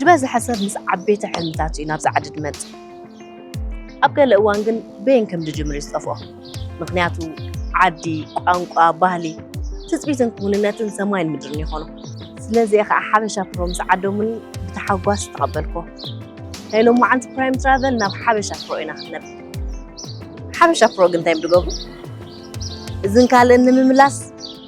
ዝበዝሐ ሰብ ምስ ዓበይቲ ሕልምታት እዩ ናብ ጻዕዲ ድመጽእ። ኣብ ገለ እዋን ግን በየን ከም ድጅምር እዩ ዝጠፍኦ። ምክንያቱ ዓዲ፣ ቋንቋ፣ ባህሊ፣ ትጽቢትን ክውንነትን ሰማይን ምድርን ይኾኖ። ስለዚ እየ ከዓ ሓበሻ ፕሮ ምስ ዓደሙኒ ብተሓጓስ ዝተቐበልኮ። ናይ ሎማዓንቲ ፕራይም ትራቨል ናብ ሓበሻ ፕሮ ኢና ክንነብ። ሓበሻ ፕሮ ግን እንታይ ድገብሩ? እዝን ካልእን ንምምላስ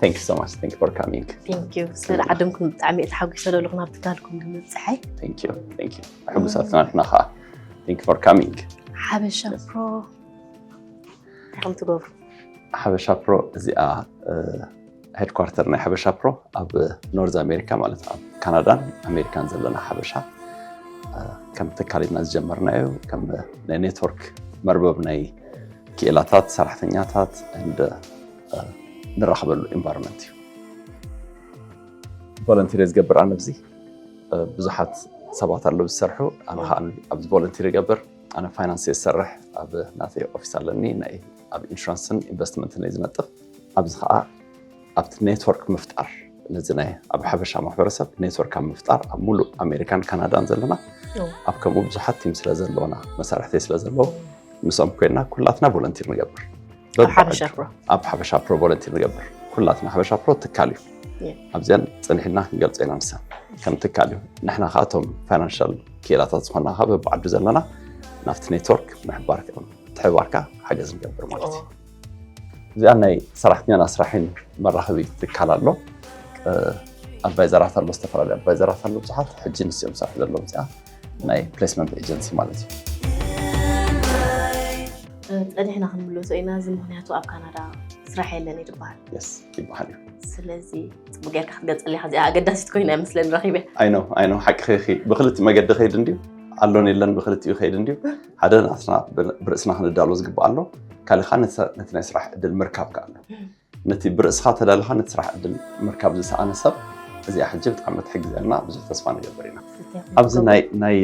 Thank you so much. Thank you for coming. Thank you. ስለ ዓድምኩም ብጣዕሚ እየ ተሓጒሰ ዘለኹ ናብ ትካልኩም ብምብፅሐይ። Thank you. Thank you. ሕጉሳት ኢና ንሕና ከዓ። Thank you for coming. ሓበሻ ፕሮ እንታይ ከም ትገብሩ ሓበሻ ፕሮ እዚኣ ሄድኳርተር ናይ ሓበሻ ፕሮ ኣብ ኖርዝ ኣሜሪካ ማለት ኣብ ካናዳን ኣሜሪካን ዘለና ሓበሻ ከም ትካል ኢና ዝጀመርናዮ ከም ናይ ኔትወርክ መርበብ ናይ ክኢላታት ሰራሕተኛታት ንራኽበሉ ኤንቫይሮንመንት እዩ። ቮለንቲር ዝገብር ኣነ ብዚ ብዙሓት ሰባት ኣለዉ ዝሰርሑ ኣነ ከዓ ኣብዚ ቮለንቲር ይገብር ኣነ ፋይናንስ እየ ዝሰርሕ ኣብ ናተይ ኦፊስ ኣለኒ ናይ ኣብ ኢንሹራንስን ኢንቨስትመንትን እየ ዝነጥፍ ኣብዚ ከዓ ኣብቲ ኔትወርክ ምፍጣር ነዚ ናይ ኣብ ሓበሻ ማሕበረሰብ ኔትወርክ ኣብ ምፍጣር ኣብ ሙሉእ ኣሜሪካን ካናዳን ዘለና ኣብ ከምኡ ብዙሓት ቲም ስለ ዘለውና መሳርሕተይ ስለ ዘለዎ ምስኦም ኮይና ኩላትና ቮለንቲር ንገብር ኣብ ሓበሻ ፕሮ ኣብ ሓበሻ ፕሮ ቮለንቲር ንገብር ኩላትና ሓበሻ ፕሮ ትካል እዩ የ። ኣብዚኣን ፅኒሕና ክንገልፆ ኢና ንሰን ከም ትካል እዩ ንሕና ከዓ እቶም ፋይናንሻል ክኢላታት ዝኾና ከዓ በብዓዱ ዘለና ናብቲ ኔትወርክ ምሕባር ምትሕብባርካ ሓገዝ ንገብር ማለት እዩ እዚኣ ናይ ሰራሕተኛን ኣስራሒን መራኸቢ ትካል ኣሎ ኣድቫይዘራት ኣሎ ዝተፈላለዩ ኣድቫይዘራት ኣሎ ብዙሓት ሕጂ ንስኦም ዝሰርሑ ዘለዉ እዚኣ ናይ ፕሌስመንት ኤጀንሲ ማለት እዩ። ጸኒሕና ክንምለሶ ኢና እዚ ምክንያቱ ኣብ ካናዳ ስራሕ የለን እዩ ዝበሃል የስ ይበሃል እዩ። ስለዚ ፅቡቅ ጌርካ ክትገልፀሊ ኢካ እዚኣ ኣገዳሲት ኮይና እያ መስለኒ ረኪበ ኣይ ነው ኣይ ነው ሓቂ ኸይኺ ብክልቲ መገዲ ከይድ እንድዩ ኣሎን የለን ብክልቲኡ ከይድ እንድዩ ሓደ ናትና ብርእስና ክንዳሎ ዝግባእ ኣሎ ካልእ ከዓ ነቲ ናይ ስራሕ ዕድል ምርካብ ከዓ ኣሎ ነቲ ብርእስኻ ተዳልኻ ነቲ ስራሕ ዕድል ምርካብ ዝሰኣነ ሰብ እዚኣ ሕጂ ብጣዕሚ ትሕግዘና ብዙሕ ተስፋ ንገብር ኢና ኣብዚ ናይ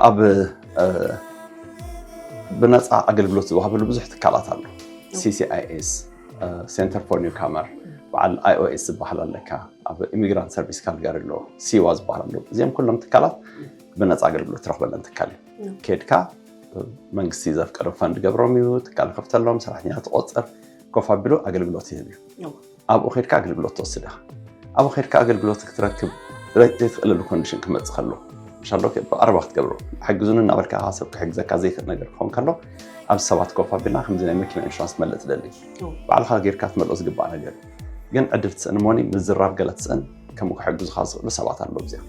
ኣብ ብነፃ ኣገልግሎት ዝወሃበሉ ብዙሕ ትካላት ኣሎ ሲሲኣይኤስ ሴንተር ፎር ኒው ካመር በዓል ኣይኦኤስ ዝበሃል ኣለካ ኣብ ኢሚግራንት ሰርቪስ ካልጋሪ ኣሎ ሲዋ ዝበሃል ኣሎ እዚኦም ኩሎም ትካላት ብነፃ ኣገልግሎት ትረክበለን ትካል እዩ ኬድካ መንግስቲ ዘፍቀሩ ፈንድ ገብሮም እዩ ትካል ከፍተሎም ሰራሕተኛ ትቆፅር ኮፍ ኣቢሉ ኣገልግሎት ይህብ እዩ ኣብኡ ከድካ ኣገልግሎት ትወስድ ኢኻ ኣብኡ ከድካ ኣገልግሎት ክትረክብ ዘይትኽእለሉ ኮንዲሽን ክመፅእ ከሎ ሻሎ ብቀረባ ክትገብሮ ሓግዙኒ እናበልካ ከዓ ሰብ ክሕግዘካ ዘይክእል ነገር ክኸውን ከሎ ኣብ ሰባት ኮፍ ኣቢልና ከምዚ ናይ መኪና ኢንሹራንስ ትመልእ ትደሊ ባዕልካ ጌርካ ትመልኦ ዝግባእ ነገር ግን ዕድል ትስእን ሞኒ ምዝራብ ገለ ትስእን ከምኡ ክሕግዙኻ ዝኽእሉ ሰባት ኣለዉ እዚኣ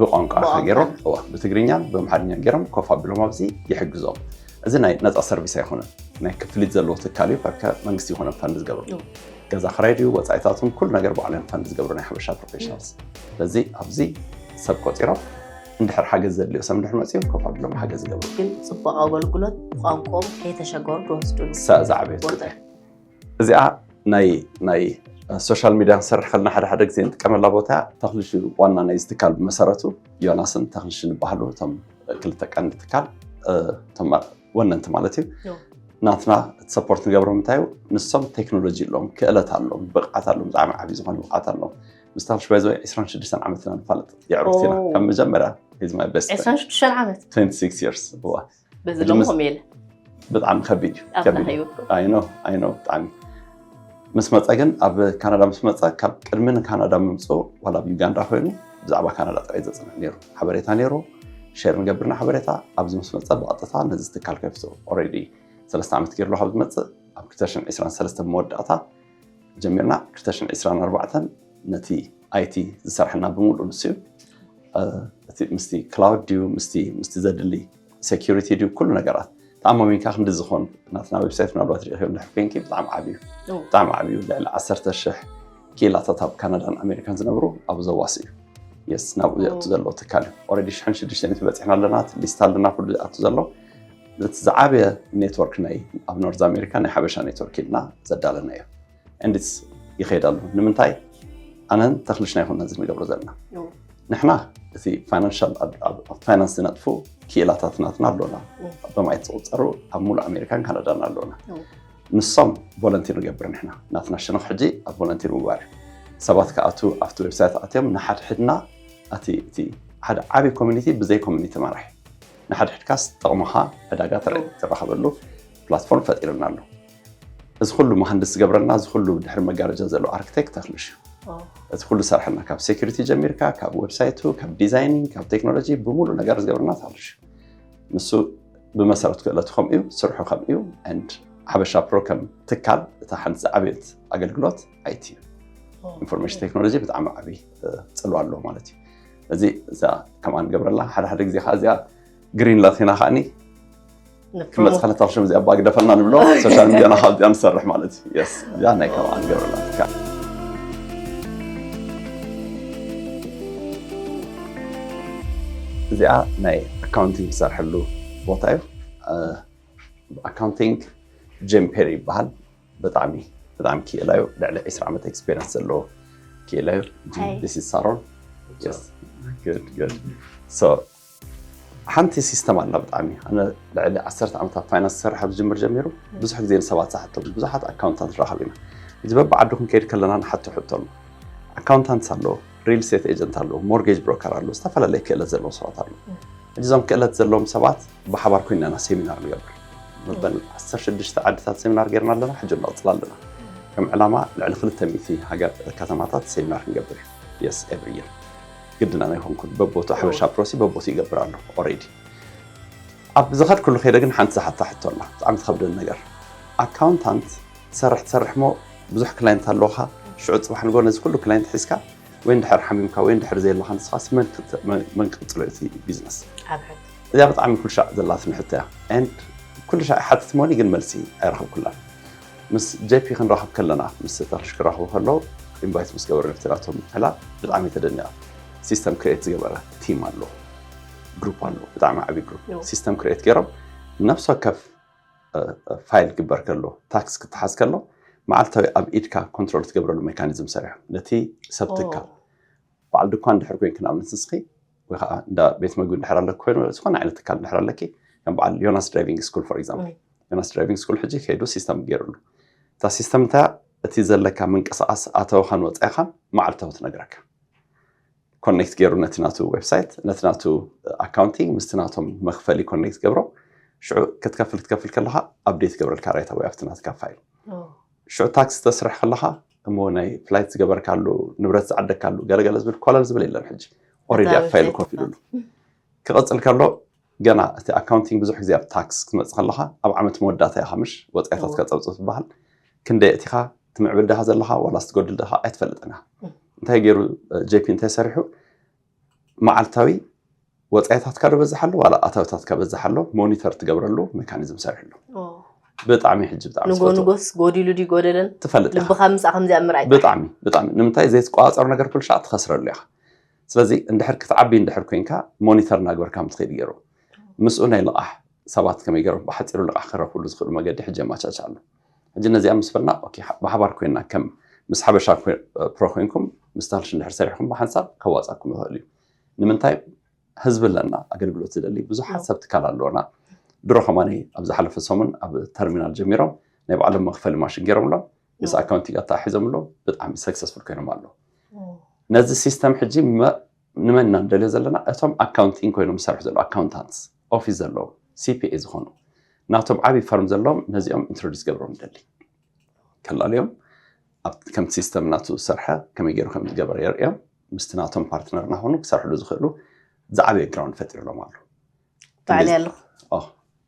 ብቋንቋ ገይሮም ብትግርኛን ብኣምሓርኛ ገይሮም ኮፍ ኣቢሎም ኣብዚ ይሕግዞም እዚ ናይ ነፃ ሰርቪስ ኣይኮነን ናይ ክፍሊት ዘለዎ ትካል እዩ ከከ መንግስቲ ይኮነ ፈንድ ዝገብሩ ገዛ ክራይ ድዩ ወፃኢታቱን ኩሉ ነገር ባዕሎም ፈንድ ዝገብሩ ናይ ሓበሻ ፕሮፌሽናልስ ስለዚ ኣብዚ ሰብ ቆፂሮም እንድሕር ሓገዝ ዘድልዮ ሰብ እንድሕር መፅኦም ኮፍ ኣቢሎም ሓገዝ ይገብሩ ግን ፅቡቅ ኣገልግሎት ቋንቋኦም ከይተሸገሩ ክወስዱ እዛ ዕብየት እዚኣ ናይ ናይ ሶሻል ሚድያ ክንሰርሕ ከለና ሓደ ሓደ ግዜ ንጥቀመላ ቦታ እያ። ተኽልሽ እዩ ዋና ናይዚ ትካል ብመሰረቱ ዮናስን ተኽልሽን ይበሃሉ እቶም ክልተ ቀንዲ ትካል እቶም ወነንቲ ማለት እዩ። ዮ። ናትና እቲ ሰፖርት ንገብሮም እንታይ እዩ ንሶም ቴክኖሎጂ ኣለዎም ክእለት ኣለዎም ብቕዓት ኣለዎም ብጣዕሚ ዓብዪ ዝኾነ ብቕዓት ኣለዎም ምስ ተኽልሽ ባይ ዘ ወይ 26 ዓመትና ንፋለጥ የዕሩኽት ኢና ካብ መጀመርያ ሂዝ ማይ ቤስት ፍሬንድ 26 ዓመት 26 years እዋ በዚ ሕጂ ሎም ምስ- ከምኡ የለ ብጣዕሚ ከቢድ እዩ ኣብዛ ከቢድ እዩ። ህይወት ኣይኖ ኣይኖ ብጣዕሚ ምስ መፀ ግን ኣብ ካናዳ ምስ መፀ ካብ ቅድሚ ንካናዳ ምምፅኡ ዋላ ኣብ ዩጋንዳ ኮይኑ ብዛዕባ ካናዳ ጥራይ ዘፅንዕ ነይሩ ሓበሬታ ነይሩ ሸር ንገብርና ሓበሬታ ኣብዚ ምስ መፀ ብቐጥታ ነዚ ትካል ከፊቱ ኦልሬዲ ሰለስተ ዓመት ገይሩ ኣሎ ካብ ዝመፅእ ኣብ 2023 መወዳእታ ጀሚርና ክልተ ሽሕን ዕስራን ኣርባዕተን ነቲ ኣይቲ ዝሰርሐና ብምሉእ ንሱ እዩ እቲ ምስቲ ክላውድ ድዩ ምስቲ ምስቲ ዘድሊ ሴኪሪቲ ድዩ ኩሉ ነገራት ተኣማሚንካ ክንዲ ዝኾን ናትና ዌብሳይት ምናልባት ሪኢኹዮ እንድሕር ኮንኪ ብጣዕሚ ዓብዩ እዩ። ብጣዕሚ ዓብዩ ልዕሊ ዓሰርተ ሽሕ ኪላታት ኣብ ካናዳን ኣሜሪካን ዝነብሩ ኣብ ዘዋስ እዩ የስ ናብኡ ዘእቱ ዘሎ ትካል እዩ ኦልሬዲ ሽሕን ሽዱሽተን እዩ በፂሕና ኣለና እቲ ሊስት ኣለና ኩሉ ዝኣቱ ዘሎ ነቲ ዝዓበየ ኔትወርክ ናይ ኣብ ኖርዝ ኣሜሪካ ናይ ሓበሻ ኔትወርክ ኢልና ዘዳለናዮ እንድስ ይኸይድ ኣሎ ንምንታይ ኣነን ተኽልሽ ናይ ኮነ እዚ ንገብሮ ዘለና ንሕና እቲ ፋይናንሻል ፋይናንስ ዝነጥፉ ክኢላታት ናትና ኣሎና በማየት ዝቁፀሩ ኣብ ሙሉእ ኣሜሪካን ካናዳን ኣሎና ንሶም ቮለንቲር ንገብር ንሕና ናትና ሸነኽ ሕጂ ኣብ ቮለንቲር ምግባር እዩ ሰባት ክኣቱ ኣብቲ ዌብሳይት ኣትዮም ንሓድሕድና እቲ ሓደ ዓብዪ ኮሚኒቲ ብዘይ ኮሚኒቲ መራሕ ንሓድሕድካ ዝጠቕሙኻ ዕዳጋ ትራኸበሉ ፕላትፎርም ፈጢሩልና ኣሎ። እዚ ኩሉ መሃንድስ ዝገብረልና እዚ ኩሉ ድሕሪ መጋረጃ ዘሎ ኣርክቴክት ተኽልሽ እዩ እቲ ኩሉ ዝሰርሐልና ካብ ሴኩሪቲ ጀሚርካ ካብ ዌብሳይቱ ካብ ዲዛይኒንግ ካብ ቴክኖሎጂ ብምሉእ ነገር ዝገብረና ተኽልሽ እዩ ንሱ ብመሰረት ክእለቱ ከምኡ እዩ ስርሑ ከምኡ እዩ ሓበሻ ፕሮ ከም ትካል እታ ሓንቲ ዝዓበየት ኣገልግሎት ኣይቲ እዩ ኢንፎርሜሽን ቴክኖሎጂ ብጣዕሚ ዓብዪ ፅልዋ ኣለዎ ማለት እዩ እዚ እዛ ከምኣ ንገብረላ ሓደ ሓደ ግዜ ከዓ እዚኣ ግሪን ላቲና ከዓኒ ክመፅእ ከለታ ክሽም እዚኣ ባግ ደፈና ንብሎ ሶሻል ሚዲያና ካብ እዚኣ ንሰርሕ ማለት እዩ የስ እዚኣ ናይ ከምኣ ንገብረላ ትካል እዚኣ ናይ ኣካውንቲንግ ዝሰርሐሉ ቦታ እዩ ኣካውንቲንግ ጄም ፔሪ ይበሃል ብጣዕሚ ብጣዕሚ ክኢላ እዩ ልዕሊ ዕስራ ዓመት ኤክስፔሪንስ ዘለዎ ክኢላ እዩ Hi. ዲስ ኢዝ ሳሮን Yes. Good, good. So, ሓንቲ ሲስተም ኣላ ብጣዕሚ ኣነ ልዕሊ ዓሰርተ ዓመት ኣብ ፋይናንስ ዝሰርሕ ኣብ ዝጅምር ጀሚሩ ብዙሕ ግዜ ንሰባት ዝሓቶ ብዙሓት ኣካውንታንት ንረኽብ ኢና እዚ በብዓዱ ክንከይድ ከለና ንሓቶ ሕቶ ኣሎ ኣካውንታንትስ ኣለዎ ሪል ስቴት ኤጀንት ኣሎ፣ ሞርጌጅ ብሮከር ኣሎ፣ ዝተፈላለየ ክእለት ዘለዎም ሰባት ኣሎ። እዞም ክእለት ዘለዎም ሰባት ብሓባር ኮይና ኢና ሴሚናር ንገብር። መበል 16 ዓድታት ሴሚናር ጌርና ኣለና፣ ሕጂ ንቕፅል ኣለና። ከም ዕላማ ልዕሊ 200 ሃገር ከተማታት ሴሚናር ክንገብር የስ ኤቭሪ ይር ግድና ናይ ኮንኩን በቦቱ ሓበሻ ፕሮሲ በቦቱ ይገብር ኣሎ ኦሬዲ ኣብ ዝኸድኩሉ ከይደ ግን ሓንቲ ዝሓታ ሕቶ ኣላ ብጣዕሚ ትኸብደን ነገር ኣካውንታንት ትሰርሕ ትሰርሕ እሞ ብዙሕ ክላይንት ኣለውኻ ሽዑ ጽባሕ ንግሆ ነዚ ኩሉ ክላይንት ሒዝካ ወይ እንድሕር ሓሚምካ ወይ እንድሕር ዘየለኻ ንስኻስ መን ክት- መ- መን ክቅጽሎ እቲ ቢዝነስ ኣብረት እዚኣ ብጣዕሚ ኩሉ ሻዕ ዘላትኒ ሕቶ እያ and ኩሉ ሻዕ ይሓትት ሞኒ ግን መልሲ ኣይረኸብኩላን ምስ ጄፒ ክንራኸብ ከለና ምስ ተኽልሽ ክራኸቡ ከለዉ ኢንቫይት ምስ ገበሩ ነቲ ናቶም ዕላል ብጣዕሚ እየ ተደኒቐ ሲስተም ክሬት ዝገበረ ቲም ኣሎ ግሩፕ ኣሎ ብጣዕሚ ዓብዪ ግሩፕ ዮ። ሲስተም ክሬት ገይሮም ነፍሲ ወከፍ ፋይል ክግበር ከሎ ታክስ ክትሓዝ ከሎ መዓልታዊ ኣብ ኢድካ ኮንትሮል ትገብረሉ ሜካኒዝም ሰሪሖም ነቲ ሰብ ትካል በዓል ድኳን ድሕር ኮይንክ ንኣብነት ንስኺ ወይ ከዓ እንዳ ቤት መግቢ እንድሕር ኣለክ ኮይኑ ዝኾነ ዓይነት ትካል እንድሕር ኣለኪ ከም በዓል ዮናስ ድራይቪንግ ስኩል ፎር ኤግዛምፕል ዮናስ ድራይቪንግ ስኩል ሕጂ ከይዱ ሲስተም ገይሩሉ እታ ሲስተም እንታ እቲ ዘለካ ምንቅስቃስ ኣተወኻን ወፃኢኻን መዓልታዊ ትነግረካ ኮኔክት ገይሩ ነቲ ናቱ ዌብሳይት ነቲ ናቱ ኣካውንቲንግ ምስቲ ናቶም መክፈሊ ኮኔክት ገብሮ ሽዑ ክትከፍል ክትከፍል ከለካ ኣብዴት ገብረልካ ራይት ኣወይ ኣብቲ ናትካ ፋይል ሽዑ ታክሲ ተስርሕ ከለካ እሞ ናይ ፍላይት ዝገበርካሉ ንብረት ዝዓደካሉ ገለገለ ዝብል ኮለል ዝብል የለን ሕጂ ኦሬዲ ኣብ ፋይል ኮፍ ኢሉሉ ክቐፅል ከሎ ገና እቲ ኣካውንቲንግ ብዙሕ ግዜ ኣብ ታክስ ክትመጽእ ከለኻ ኣብ ዓመት መወዳእታ ኢኻ ምሽ ወጻኢታትካ ጸብጽብ ትበሃል። ክንደይ ኣእቲኻ ትምዕብል ድኻ ዘለኻ ዋላስ ትጎድል ድኻ ኣይትፈልጥን ኢኻ። እንታይ ገይሩ ጄፒ እንታይ ሰሪሑ መዓልታዊ ወፃኢታትካ ዶ በዝሕ ኣሎ ዋላ ኣታዊታትካ በዝሕ ኣሎ ሞኒተር ትገብረሉ ሜካኒዝም ሰሪሕሉ ብጣዕሚ ሕጂ ብጣዕሚ ንጎ ንጎስ ጎዲሉ ድዩ ጎደለን ትፈልጥ ልብኻ ምስ ከምዚኣ ምርኣይ ብጣዕሚ ብጣዕሚ ንምንታይ ዘይትቆፃፀሩ ነገር ኩልሻ ትኸስረሉ ኢኻ ስለዚ እንድሕር ክትዓቢ እንድሕር ኮንካ ሞኒተር እናግበርካ ከም ትኸይድ ገይሩ ምስኡ ናይ ልቓሕ ሰባት ከመይ ገይሮም ብሓፂሩ ልቓሕ ክረኽብሉ ዝኽእሉ መገዲ ሕጂ ኣመቻች ኣሎ ሕጂ ነዚኣ ምስ በልና ብሓባር ኮይና ከም ምስ ሓበሻ ፕሮ ኮይንኩም ምስ ታልሽ እንድሕር ሰሪሕኩም ብሓንሳብ ከዋፃኩም ይኽእል እዩ ንምንታይ ህዝቢ ኣለና ኣገልግሎት ዝደሊ ብዙሓት ሰብ ትካል ኣለዎና ድሮ ከማኒ ኣብ ዝሓለፈ ሰሙን ኣብ ተርሚናል ጀሚሮም ናይ ባዕሎም መኽፈሊ ማሽን ገይሮምሎም ምስ ኣካውንቲንግ ኣተሓሒዞም ኣሎ ብጣዕሚ ሰክሰስፉል ኮይኖም ኣሎ ነዚ ሲስተም ሕጂ ንመን ኢና ንደልዮ ዘለና እቶም ኣካውንቲንግ ኮይኖም ዝሰርሑ ዘለዉ ኣካውንታንት ኦፊስ ዘለዉ ሲፒኤ ዝኾኑ ናቶም ዓብዪ ፈርም ዘለዎም ነዚኦም ኢንትሮዲስ ገብሮም ንደሊ ከላለዮም ከምቲ ሲስተም ናቱ ዝሰርሐ ከመይ ገይሩ ከም ዝገበረ የርእዮም ምስቲ ናቶም ፓርትነር ናኾኑ ክሰርሕሉ ዝኽእሉ ዝዓበየ ግራውንድ ፈጢርሎም ኣሎ ባዕል ኣለኹ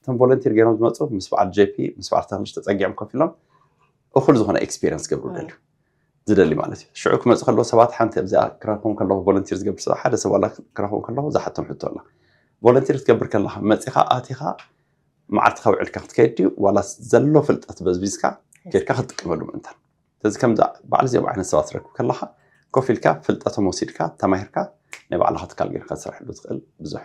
እቶም ቮለንቲር ገይሮም ዝመፁ ምስ በዓል ጄፒ ምስ በዓል ተኽልሽ ተፀጊዖም ኮፍ ኢሎም እኹል ዝኾነ ኤክስፔሪንስ ገብሩ ደልዩ ዝደሊ ማለት እዩ ሽዑ ክመፁ ከለዎ ሰባት ሓንቲ ኣብዚኣ ክረኽቦም ከለኹ ቮለንቲር ዝገብር ሰብ ሓደ ሰብ ዋላ ክረኽቦም ከለኹ ዝሓቶም ሕቶ ኣላ ቮለንቲር ክትገብር ከለኻ መፂኻ ኣቲኻ መዓልትኻ ውዕልካ ክትከይድ ድዩ ዋላ ዘሎ ፍልጠት በዝቢዝካ ጌርካ ክትጥቀመሉ ምእንታን ስለዚ ከምዚ በዓል እዚኦም ዓይነት ሰባት ትረክብ ከለኻ ኮፍ ኢልካ ፍልጠቶም ወሲድካ ተማሂርካ ናይ ባዕልኻ ትካል ጌርካ ትሰርሐሉ ትኽእል ብዙሕ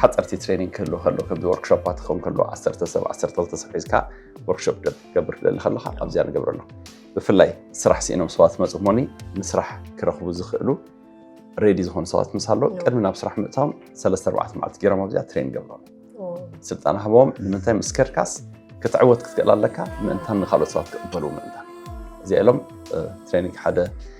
ሓፀርቲ ትሬኒንግ ክህሉ ከሎ ከምዚ ወርክሾፓት ክኸውን ከሎ ዓሰርተ ሰብ ዓሰርተ ክልተ ሰብ ሒዝካ ወርክሾፕ ክትገብር ትደሊ ከለካ ኣብዚኣ ንገብረ ኣለኹ ብፍላይ ስራሕ ስኢኖም ሰባት መፁ ሞኒ ንስራሕ ክረኽቡ ዝኽእሉ ሬዲ ዝኾኑ ሰባት ምስ ኣሎ ቅድሚ ናብ ስራሕ ምእታዎም ሰለስተ ኣርባዕተ መዓልቲ ገይሮም ኣብዚኣ ትሬን ገብሮም ስልጣን ሃቦም ንምንታይ ምስ ከድካስ ክትዕወት ክትክእል ኣለካ ምእንታን ንካልኦት ሰባት ክቕበሉ ምእንታን እዚኣ ኢሎም ትሬኒንግ ሓደ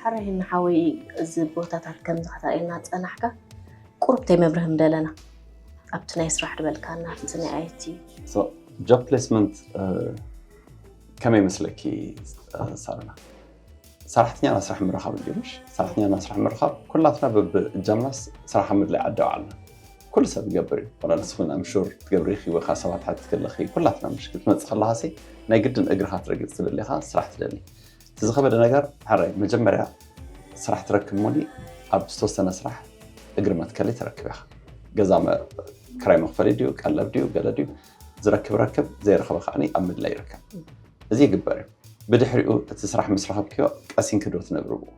ሐራይ ንሓወይ እዚ ቦታታት ከምዚ ከተርእየና ዝጸናሕካ ቁሩብ ተይመብርህ ምደለና ኣብቲ ናይ ስራሕ ድበልካና ኣብቲ ናይ ኣይቲ ጆብ ፕሌስመንት ከመይ መስለኪ ሳረና ሰራሕተኛ ናብ ስራሕ ምርኻብ እዩ ምሽ ሰራሕተኛ ናብ ስራሕ ምርኻብ ኩላትና በብእጃምናስ ስራሕ ኣብ ምድላይ ዓዲ ባዓልና ኩሉ ሰብ ይገብር እዩ ዋላ ንስኹን ኣምሹር ትገብሪ ኢኺ ወይ ከዓ ሰባት ሓቲ ከለኺ ኩላትና ምሽ ክትመፅእ ከለኻሲ ናይ ግድን እግርኻ ትረግፅ ትደሊ ኢኻ ስራሕ ትደሊ እቲ ዝኸበደ ነገር ሕራይ መጀመርያ ስራሕ ትረክብ እሞ ኣብ ዝተወሰነ ስራሕ እግሪ መትከሊ ትረክብ ኢኻ። ገዛ ክራይ መኽፈሊ ድዩ ቀለብ ድዩ ገለ ድዩ ዝረክብ ረክብ ዘይረኸበ ከዓ ኣብ ምድላይ ይርከብ እዚ ይግበር እዩ ብድሕሪኡ እቲ ስራሕ ምስ ረኸብክዮ ቀሲንኪ ዶ ትነብሪ ብኡ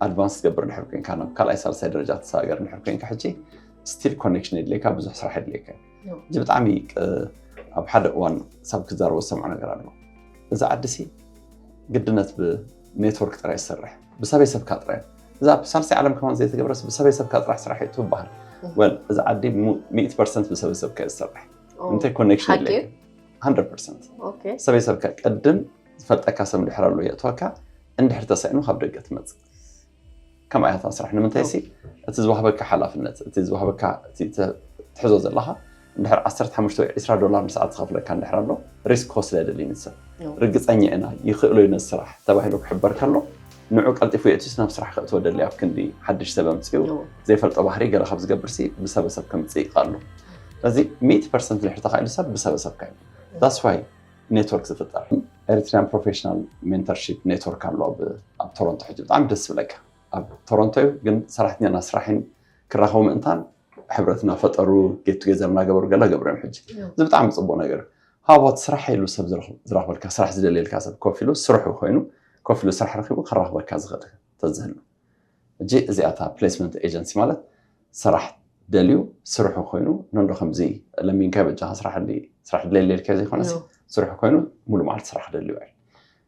ኣድቫንስ ትገብር ድሕር ኮንካ ናብ ካልኣይ ሳልሳይ ደረጃ ትሰጋገር ድሕር ኮንካ ሕጂ ስቲል ኮኔክሽን የድልየካ ብዙሕ ስራሕ የድልየካ እዩ እዚ ብጣዕሚ ኣብ ሓደ እዋን ሰብ ክዛረቦ ዝሰምዖ ነገር ኣሎ እዚ ዓዲ ሲ ግድነት ብኔትወርክ ጥራይ ዝሰርሕ ብሰበይ ሰብካ ጥራይ እዛ ኣብ ሳልሳይ ዓለም ከማን ዘይተገብረስ ብሰበይ ሰብካ ጥራሕ ስራሕ እዩ ትበሃል ወል እዚ ዓዲ ሚእቲ ፐርሰንት ብሰበይ ሰብካ እዩ ዝሰርሕ እንታይ ኮኔክሽን ሓቂ የለካ ሃንድረድ ፐርሰንት ኦኬ ሰበይ ሰብካ ቅድም ዝፈልጠካ ሰብ እንድሕር ኣሎ የእትወካ እንድሕር ተሳኢኑ ካብ ደገ ትመፅእ ከምኣ እያ እታ ስራሕ ንምንታይሲ እቲ ዝዋሃበካ ሓላፍነት እቲ ዝዋሃበካ ትሕዞ ዘለካ እንድሕር 15 ወይ 20 ዶላር ንሰዓት ዝኸፍለካ እንድሕር ኣሎ ሪስክ ክወስድ ኣይደልይን እቲ ሰብ ርግፀኛ ኢና ይኽእሎ እዩ ነዚ ስራሕ ተባሂሉ ክሕበር ከሎ ንዑ ቀልጢፉ የእትዩስ ናብ ስራሕ ከእትዎ ደሊ ኣብ ክንዲ ሓድሽ ሰብ ኣምፅኡ ዘይፈልጦ ባህሪ ገለ ካብ ዝገብርሲ ብሰበሰብ ከምፅእ ይኽኣሉ ስለዚ ሚእቲ ፐርሰንት ድሕር ተኻኢሉ ሰብ ብሰበሰብካ እዩ ዳስዋይ ኔትወርክ ዝፍጠር ኤሪትሪያን ፕሮፌሽናል ሜንተርሺፕ ኔትወርክ ኣሎ ኣብ ቶሮንቶ ሕጂ ብጣዕሚ ደስ ዝብለካ ኣብ ቶሮንቶ እዩ ግን ሰራሕተኛና ስራሕን ክራኸቡ ምእንታን ሕብረት እናፈጠሩ ጌት ቱጌዘር እናገበሩ ገለ ገብሩ እዮም ሕጂ እዚ ብጣዕሚ ፅቡቅ ነገር ሃቦት ስራሕ ኢሉ ሰብ ዝረኽበልካ ስራሕ ዝደልየልካ ሰብ ኮፍ ኢሉ ስርሑ ኮይኑ ኮፍ ኢሉ ስራሕ ረኪቡ ከራኽበካ ዝኽእል ተዝህሉ ሕጂ እዚኣ እታ ፕሌስመንት ኤጀንሲ ማለት ሰራሕ ደልዩ ስርሑ ኮይኑ ነንዶ ከምዚ ለሚንካዮ በጃኻ ስራሕሊ ስራሕ ድለየለ ኢልካዮ ዘይኮነስ ስርሑ ኮይኑ ሙሉእ መዓልቲ ስራሕ ክደልዩ እዩ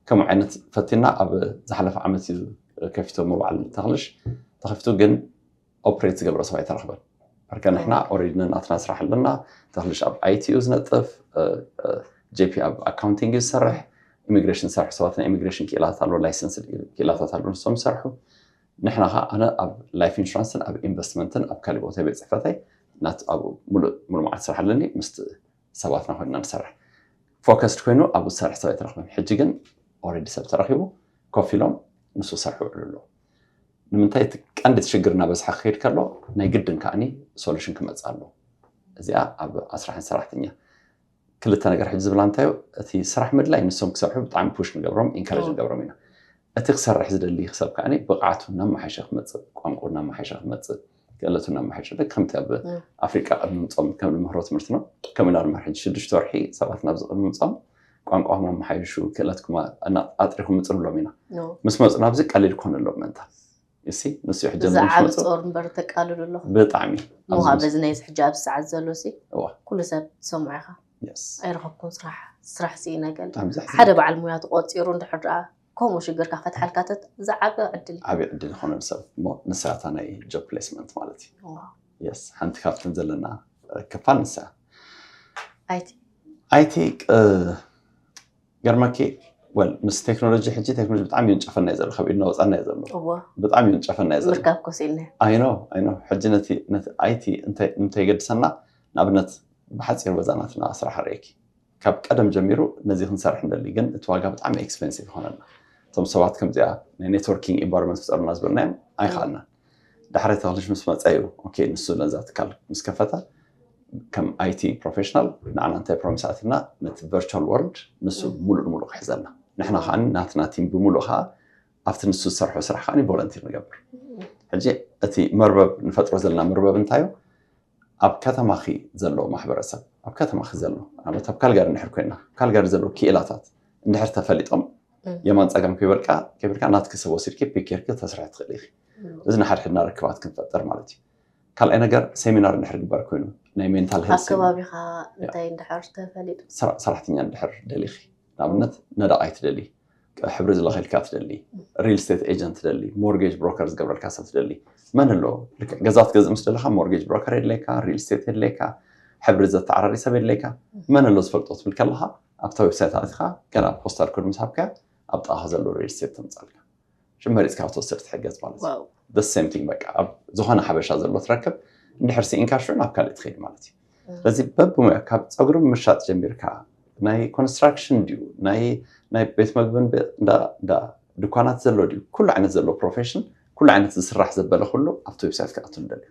ከምኡ ዓይነት ፈቲና ኣብ ዝሓለፈ ዓመት እዩ ከፊቶ መባዕል ተኽልሽ ተኸፊቱ ግን ኦፕሬት ዝገብረ ሰብ ኣይተረኽበን ርከ ንሕና ኦሬዲ ነናትና ስራሕ ኣለና ተኽልሽ ኣብ ኣይቲ እዩ ዝነጥፍ ጄፒ ኣብ ኣካውንቲንግ እዩ ዝሰርሕ ኢሚግሬሽን ዝሰርሑ ሰባት ናይ ኢሚግሬሽን ክኢላታት ኣለዉ ላይሰንስ ክኢላታት ኣለዉ ንሶም ይሰርሑ ንሕና ከዓ ኣነ ኣብ ላይፍ ኢንሹራንስን ኣብ ኢንቨስትመንትን ኣብ ካሊእ ቦታ ቤት ፅሕፈተይ ናት ኣብ ሙሉእ ሙሉእ መዓልቲ ስራሕ ኣለኒ ምስ ሰባትና ኮይንና ንሰርሕ ፎከስድ ኮይኑ ኣብኡ ዝሰርሕ ሰብ ኣይተረኽበን ሕጂ ግን ኦልሬዲ ሰብ ተረኪቡ ኮፍ ኢሎም ንሱ ሰርሑ ውዕሉ ኣለዉ ንምንታይ እቲ ቀንዲ እቲ ሽግር እናበዝሓ ክኸይድ ከሎ ናይ ግድን ከዓኒ ሶሉሽን ክመፅእ ኣለዎ እዚኣ ኣብ ኣስራሕን ሰራሕተኛ ክልተ ነገር ሕጂ ዝብላ እንታዮ እቲ ስራሕ ምድላይ ንሶም ክሰርሑ ብጣዕሚ ፑሽ ንገብሮም ኢንካሬጅ ንገብሮም ኢና እቲ ክሰርሕ ዝደሊ ሰብ ከዓ ብቕዓቱ እናመሓሸ ክመፅእ ቋንቁ እናመሓሸ ክመፅእ ክእለቱ እናመሓሸ ልክ ከምቲ ኣብ ኣፍሪቃ ቅድሚ ምፆም ከም ንምህሮ ትምህርቲ ነው ከም ኢና ንምህር ሕጂ ሽዱሽተ ወርሒ ሰባት ናብዚ ቅድሚ ምፆም ቋንቋኹም ኣመሓይሹ ክእለትኩም ኣጥሪኹም ምፅእ ንብሎም ኢና ምስ መፁ ናብዚ ቀሊል ክኾነሎም ምእንታ እሲ ንሱ ሕጂ እዚ ዓብ ጾር እምበር ተቃልሉ ኣለኹ ብጣዕሚ ምዃ በዚ ናይ ሕጂ ኣብ ሰዓት ዘሎ ሲ ኩሉ ሰብ ሰምዖ ኢኻ ኣይረኸብኩን ስራሕ ስራሕ ስኢነ ገለ ሓደ በዓል ሙያ ተቆጺሩ እንድሕር ደኣ ከምኡ ሽግርካ ከትሓልካ ዝዓበ ዕድል ዓብ ዕድል ዝኾነ ሰብ እሞ ንሳታ ናይ ጆብ ፕሌስመንት ማለት እዩ የስ ሓንቲ ካብትን ዘለና ክፋል ንሳ ኣይቲ ኣይቲ ገርመኪ ወል ምስ ቴክኖሎጂ ሕጂ ቴክኖሎጂ ብጣዕሚ ይንጨፈና እዩ ዘሎ ካብ ኢድና ወፃና እዩ ዘሎ እዎ ብጣዕሚ ይንጨፈና እዩ ዘሎ ምርካብ ኮስ ኢልና ኣይኖ ኣይኖ ሕጂ ነቲ ነቲ ኣይቲ እንተ- እንተይገድሰና ንኣብነት ብሓፂሩ በዛ ናትና ስራሕ ርእኪ ካብ ቀደም ጀሚሩ ነዚ ክንሰርሕ ንደሊ ግን እቲ ዋጋ ብጣዕሚ ኤክስፔንሲቭ ይኾነና እቶም ሰባት ከምዚኣ ናይ ኔትወርኪንግ ኢንቫይሮንመንት ክፀሩና ዝበልናዮም ኣይኸኣልናን ዳሕረቲ ክልሽ ምስ መጸ እዩ ኦኬ ንሱ ነዛ ትካል ምስ ከፈተ ከም ኣይቲ ፕሮፌሽናል ንዓና እንታይ ፕሮሚስ ኣትዩና ነቲ ቨርቹዋል ወርልድ ንሱ ሙሉእ ንሙሉእ ክሕዘልና ንሕና ከዓ ናትና ቲም ብሙሉእ ከዓ ኣብቲ ንሱ ዝሰርሖ ስራሕ ከዓ ቮለንቲር ንገብር ሕጂ እቲ መርበብ ንፈጥሮ ዘለና መርበብ እንታይ እዩ ኣብ ከተማኺ ዘሎ ማሕበረሰብ ኣብ ከተማኺ ዘሎ ንኣብነት ኣብ ካልጋሪ እንድሕር ኮይና ካልጋሪ ዘለዉ ክኢላታት እንድሕር ተፈሊጦም የማን ፀጋም ከይበልካ ከይበልካ ናትኪ ሰብ ወሲድኪ ፒክ ጌርኪ ተስርሒ ትኽእሊ ኢኺ እዚ ንሓድሕድና ርክባት ክንፈጥር ማለት እዩ ካልኣይ ነገር ሴሚናር እንድሕር ግበር ኮይኑ ናይ ሜንታል ኣብ ከባቢኻ እንታይ እንድሕር ተፈሊጡ ሰራሕተኛ እንድሕር ደሊኺ ንኣብነት ነዳቕ ኣይትደሊ ሕብሪ ዝለኸልካ ትደሊ ሪል ስቴት ኤጀንት ትደሊ ሞርጌጅ ብሮከር ዝገብረልካ ሰብ ትደሊ መን ኣሎ ገዛ ትገዝእ ምስ ደለካ ሞርጌጅ ብሮከር የድለየካ ሪል ስቴት የድለየካ ሕብሪ ዘተዓራሪ ሰብ የድለየካ መን ኣሎ ዝፈልጦ ትብል ከለካ ኣብታ ዌብሳይት ኣትካ ገና ፖስታል ኮድ ምስ ሃብካ ኣብ ጥቃካ ዘሎ ሪል ስቴት ተምፃልካ ሽም መሪፅካ ክትወስድ ትሕገዝ ማለት እዩ the same thing በቃ ኣብ ዝኾነ ሓበሻ ዘሎ ትረክብ እንድሕር ስኢንካ ሽዑ ናብ ካልእ ትኸይድ ማለት እዩ ስለዚ በብሙያ ካብ ፀጉሪ ምሻጥ ጀሚርካ ናይ ኮንስትራክሽን ድዩ ናይ ናይ ቤት መግብን ድኳናት ዘሎ ድዩ ኩሉ ዓይነት ዘሎ ፕሮፌሽን ኩሉ ዓይነት ዝስራሕ ዘበለ ኩሉ ኣብቲ ዌብሳይት ክኣቱ ንደልዩ